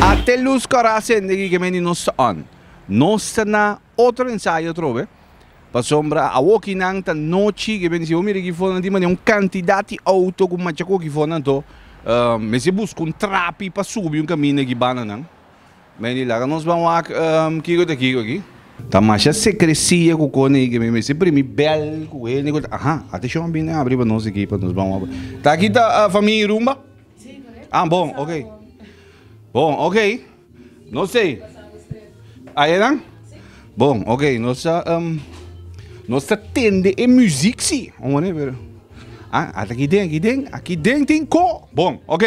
Ate lus kòrá asende ki kemendi nos ta on. Nos ta na otro ensayo atrobe, pasobra awoki nan ta nochi kemendi si bo mira ki for nan tin mane un kantidat di outo ku macha ku oki for nan to mester buska un trapi pa subi un kaminda ki bananan. Meli, laga nos ban wak kiko ta kiko aki. Ta masha secrecia cu cone y que mi mester primi bel cu el ni cu ta. Aha, atencion a bini abri pa nos aki pa nos ban wak. Ta aki ta famia Irumba? Si, correcto. Ah, bon, ok. Nos a wak bon. Bon, ok. Nos ta ei. Nos a wak straight. Aye nan? Si. Bon, ok. Nos ta nos ta tende e music si. Un mane pero. Ah, ata aki den, aki den. Aki den tin co. Bon, ok.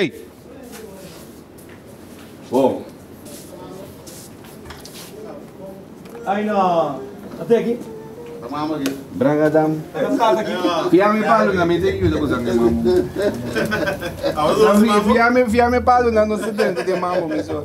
Wow. Ay no, ate aki. Branga dam. Fia mi palo na mi te yuda ku sa mi mambo. Fia mi fia mi palo na no sedente te mambo mi so.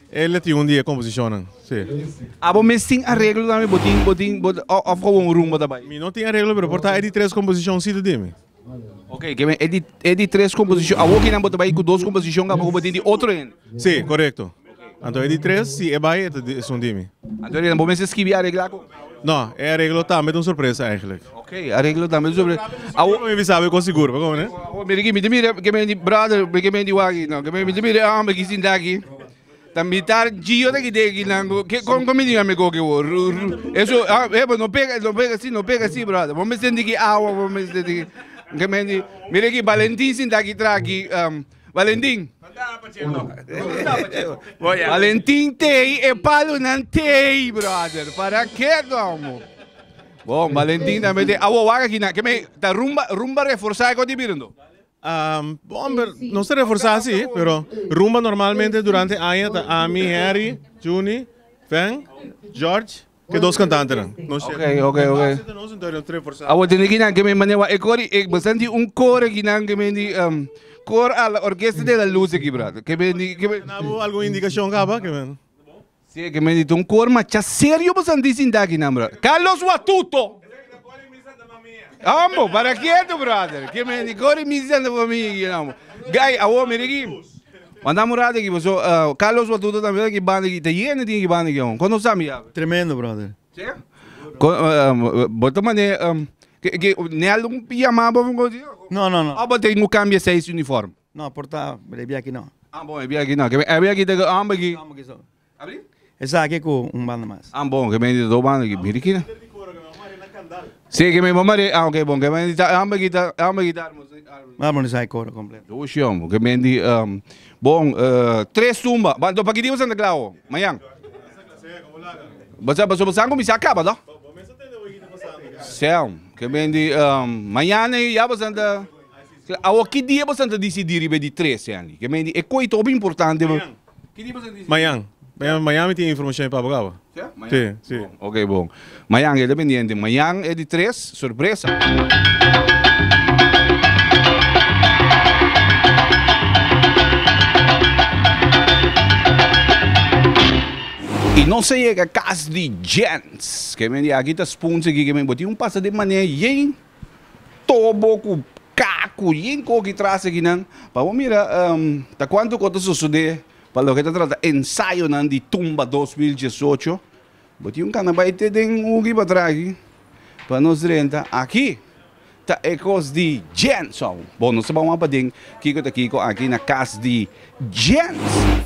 El a tin un di e composicionnan, si. Abo mes tin areglo tambe? Bo tin, bo tin, bo tin, of como un rumba ta bay? Mi no tin areglo pero por ta e di tres composicioncito di mi. Okay, ke men e di e di tres composicion. Awo kinan bo ta bay cu dos composicion kaba cu bo tin di otro hende? Si, corecto. Anto e di tres, si e bay e ta di, e son di mi. Anto e di, bo mester skibi aregla cu. No, e areglo tambe ta un sorpresa eigenlijk. Ok, areglo tambe ta un sorpresa. Awo, mi bisa be kon sigur, bako ne? Awo, mire ki, mi te mire, ke men di brother, mi ke men di waki, no, ke men, mi te mire e hombre ki sinta aki. Ta mitar Gio ta kite aki nan, ke, kon, kon mi di nan me koke bo? Ru, ru, eso, ah, epa, no pega, no pega si, no pega si, brother. Bo mester di ki awa, bo mester di ki, ke men di, mire ki Valentin sinta aki tra aki, um. Valentin. Valentin tei e palo nan tei brother. Para ke domo? Bon, Valentin tambe tei. Awo waga kina. Ke me ta rumba rumba reforzá ko di birundo. Um, bon, pero no se reforzá así, pero rumba normalmente durante aña ta Ami, Henry, Juni, Fen, George. Ke dos kantantenan. No shek. Oké, oké, oké. Base ta nos entonces tres forzado. Awor tende kinan ke men mane wa e kor i e bastan di un kor aki nan ke men di em, kor al orkesta de la luz aki brother. Ke men di ke men Nabo algun indikashon kaba ke men. si ke men di ta un kor macha serio bastan di sinta aki nan brother. Carlos Watuto. Ambo, para kieto brother. Ke men di kor i mi Santa Famia aki nan bo. Guy, awor mira aki. Manda murá di aki pues. So, Carlos Batuta ta mira ki banda aki, ta yende tin e ki banda aki awor. Kondo sa mi ya awe? Tremendo, brother. Sí? Ko, bo ta mane, ke, ke, Nel un yamá bo bo di? No, no, no. Of bo tin ku kambia seis uniform? No, por ta, bo debia aki no. Ah, bon, e biaki no. Ke, e biaki ta ku homber ki. Homber ki so. Esaki ku un banda mas. An bon ke menti ta do banda aki biri kina. Si ke me bo mare an ok bon ke menti ta arma aki ta arma aki ta armonisa e koro kompleto. Dos shion bo ke menti bon tres tumba ba pa kidiba Santa Kla awo mañan pasobra bo sa kuminsá kaba to seun ke menti mañana e ya bo Santa Kla awo kidia bo sa ta disidi riba di tres en li ke menti e koi ta hopi importante. Mayan. Mayan, mayan mi tin informacion di Papa Gaba. Sia? Mayan? Si, si. Bon, ok bon. Mayan, keda pendiente. Mayan e di tres, sorpresa. Y nos a yega cas di Jens. Kemi di aki ta spunse kikeme. Bo tin un pasa di mane, yey. Tobo cu cacu yin cogi traste aki nan pa bo mira ta cuanto cu ta sosode pa loke ta trata ensayonan di tumba dos mil diesocho bo tin un cana bay te den ugi patrás aki pa nos renta aki ta e cos di Jenson bo nos ta bawaan paden kico ta kico aki na cas di Jenson.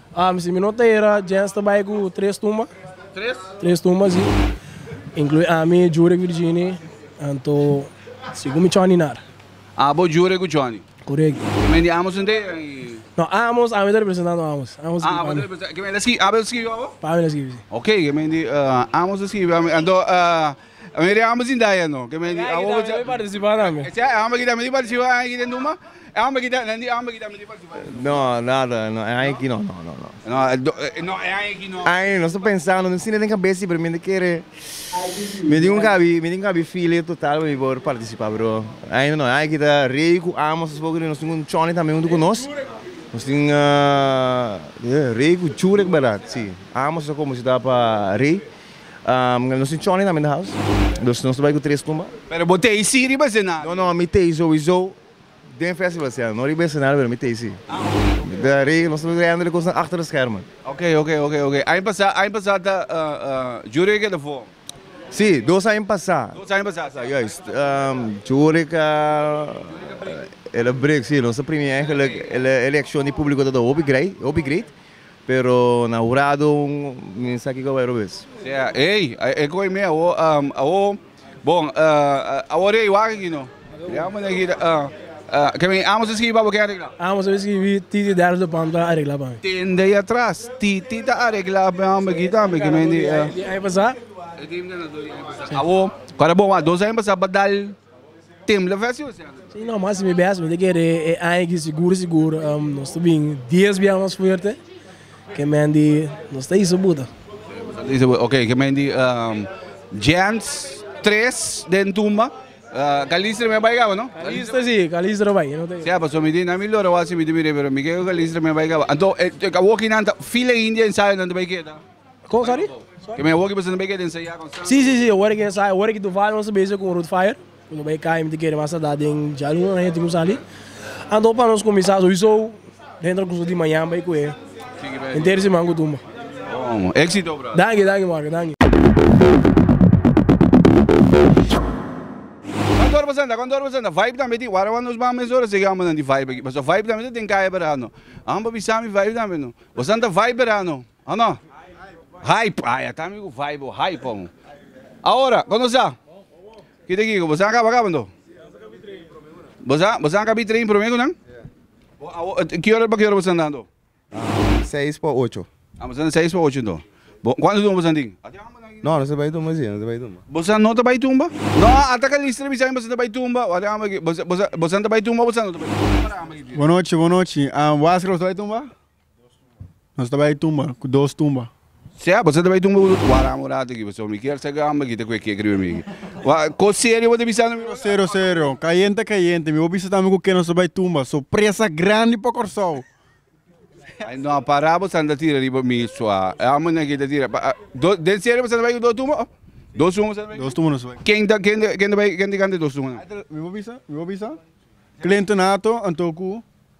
Am si mi no ta era Jens ta bai ku tres tumba. Tres? Tres tumba si. Inclui ami, Jure ku Virginie. Anto si ku mi Johnny Nar. Abo Jure ku Johnny. Correct. Ki men di Amos Nde eran i. No Amos ami ta representando Amos. Amos a skibi pa mi. Ki men Abel a skibi pa abo? Pa mi el a skibi si. Ok ki men di Amos a skibi pa mi anto. A mei di amba sin daya no. Ke mei awo bocha. Amba ki ta mei participa na mi. Ese amba ki ta mei participa aña ki den duma. E amba ki ta nan di amba ki ta mei participa den duma. No nada no e aña ki no no no no. No no e aña ki no. E aña no sta pensando mi sinti den cabeza pero mi ta kere mi tin un kabi mi tin un kabi file total pa mi por participa pero aña no e aña ki ta rey ku amo esas poco di nos tin un choni tambe hunto ku nos nos tin rey ku churek berdad si amo sa como si ta pa rey. Nos tin chònen tambe in the house. Dus nos ta bai ku tres tumba. Pero bo tei sí riba esenario? No no, mi tei souiso den festival siña, no riba esenario pero mi tei sí. Ta rei, nos ta bai reyando de kosnan achter de schermen. Ok ok ok ok. Aña pasá, aña pasá ta Jurek e ta vorm. Sí, dos aña pasá. Dos aña pasá, sa. Juist. Jurek a el a break, sí. Nos ta premia eigenlijk, el a el a accion di públiko ta ta hopi grei, hopi great. Pero na hurado mi sa kiko bai robes. Sea, ey, e koe mi awo, awo, bon, awo rei wak aki no. Ya muna aki, ke mi amo su skibi pa bo ken a regla? Amo su skibi, titi ders do pam ta a regla pa mi. Ten dei atras, titi ta a regla pa mi aki tambe, ke mi di. Di ai pasa. Awo, kua ta bon wak, dos aña pasa ba dal. No mas si mi bes mi ta kere e aña aki sigur sigur nos ta bin dies biaha mas fuerte ke men di nos ta hisa buta. Ok ke men di Giants tres den tumba Calistra mi a bai caba no? Calistra si Calistra a bai. Sea paso mi tin mi lora wak si mi tin mi rebe pero mi creo Calistra mi a bai caba anto e awoki nan ta fila india ensayo nan ta bai keda. Kon sa di? Ke mi a wor ki bisnis na bai ke den seya kon sa. Si si si awor ke sa awor ki tu vaya nos bese kon root fire nos bai kai mi ta kere mas ada den jalun a henter ku sali anto pa nos kuminsá sowiso den transkurso di mañan bai kuhé henter siman ku tumba. Bon éxito brother. Danki danki Marco danki. Kon tur presenta kon tur presenta vibe tambe tin warawan nos ban mes ora segi ambanan di vibe aki paso vibe tambe ta den kaya berano ampa bisa mi vibe tambe no bosan ta vibe berano. O no? Hype, ay ata mi ku vibe o hype pa un. Awora, kon nos ta? Kita aki ku bo sa kaba kabando? Bo sa, bo sa ka bi train prome ku nan? Bo awo, ki ora pa ki ora bo san dando? Seis pa ocho. Ah, bo san seis pa ocho anto. Bo, kuantu tumba bo san tin? No, no ta bai tumba si, no ta bai tumba. Bo san no ta bai tumba? No, ata ka Lister bisa mi bo san ta bai tumba. Wak den amba aki. Bo, bo, bo san ta bai tumba o bo san no ta bai tumba? Wak den amba aki. Bo nochi, bo nochi. Waskar bo ta bai tumba? Nos ta bai tumba ku dos tumba. Sea, boso ta bai tumba ku dos tumba. Waram un ratu aki boso. Mi kier sa ke amba kita ku e kekri mi aki. Wa, ko serio bo ta bisando mi? Serio, serio, serio. Kayente, kayente. Mi bo bisa tambe ku ke nos ta bai tumba. Sorpresa grandi pa Kòrsou. Ai no a para bo sa ta tira riba mi sua. E amba na ke ta tira. Pa, do, den serio boso ta bai ku dos tumba? Dos tumba boso ta bai? Dos tumba nos ta bai. Ken ta, ken ta, ken ta bai, ken ta kanta dos tumba nan? Mi bo bisa, mi bo bisa. Clinton Hato anto ku.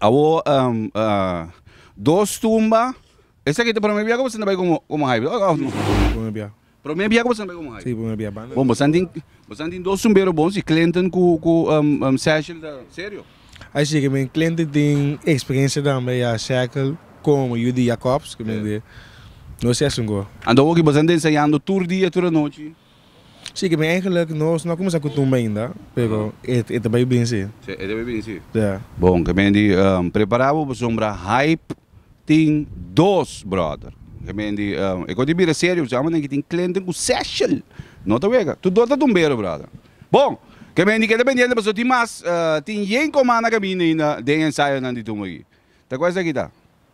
Awo dos tumba. Esaki ta prome bia ku boso ta bai komo haibe? Prome bia. Prome bia ku boso ta bai komo haibe? Si, prome bia. Bon, boso tin boso tin dos tumbero bon si Clinton ku ku Sechel ta serio? Ai si, ke men Clinton tin eksperensia tambe ya Sechel komo yu di Jacobs ke men di nos si asin ko. Anto awo ki boso ta ensayando tur dia tur anochi? Si, ke mi eigenlijk no no a kuminsá ku tumba ainda, pero e e ta bai binsi. Sí, e ta bai binsi. Ya. Bon, ke men di prepará bo pasobra Haip tin dos bròder. Ke men di e kos di bira serio pasobra ambenen aki tin Clinton ku Seshel. No ta wega. Tu dos ta tumbero, bròder. Bon, ke men di ke ta pendiente pasobra tin mas tin yen koman na kaminda ainda den e ensayonan di tumba aki. Ta kua esaki ta?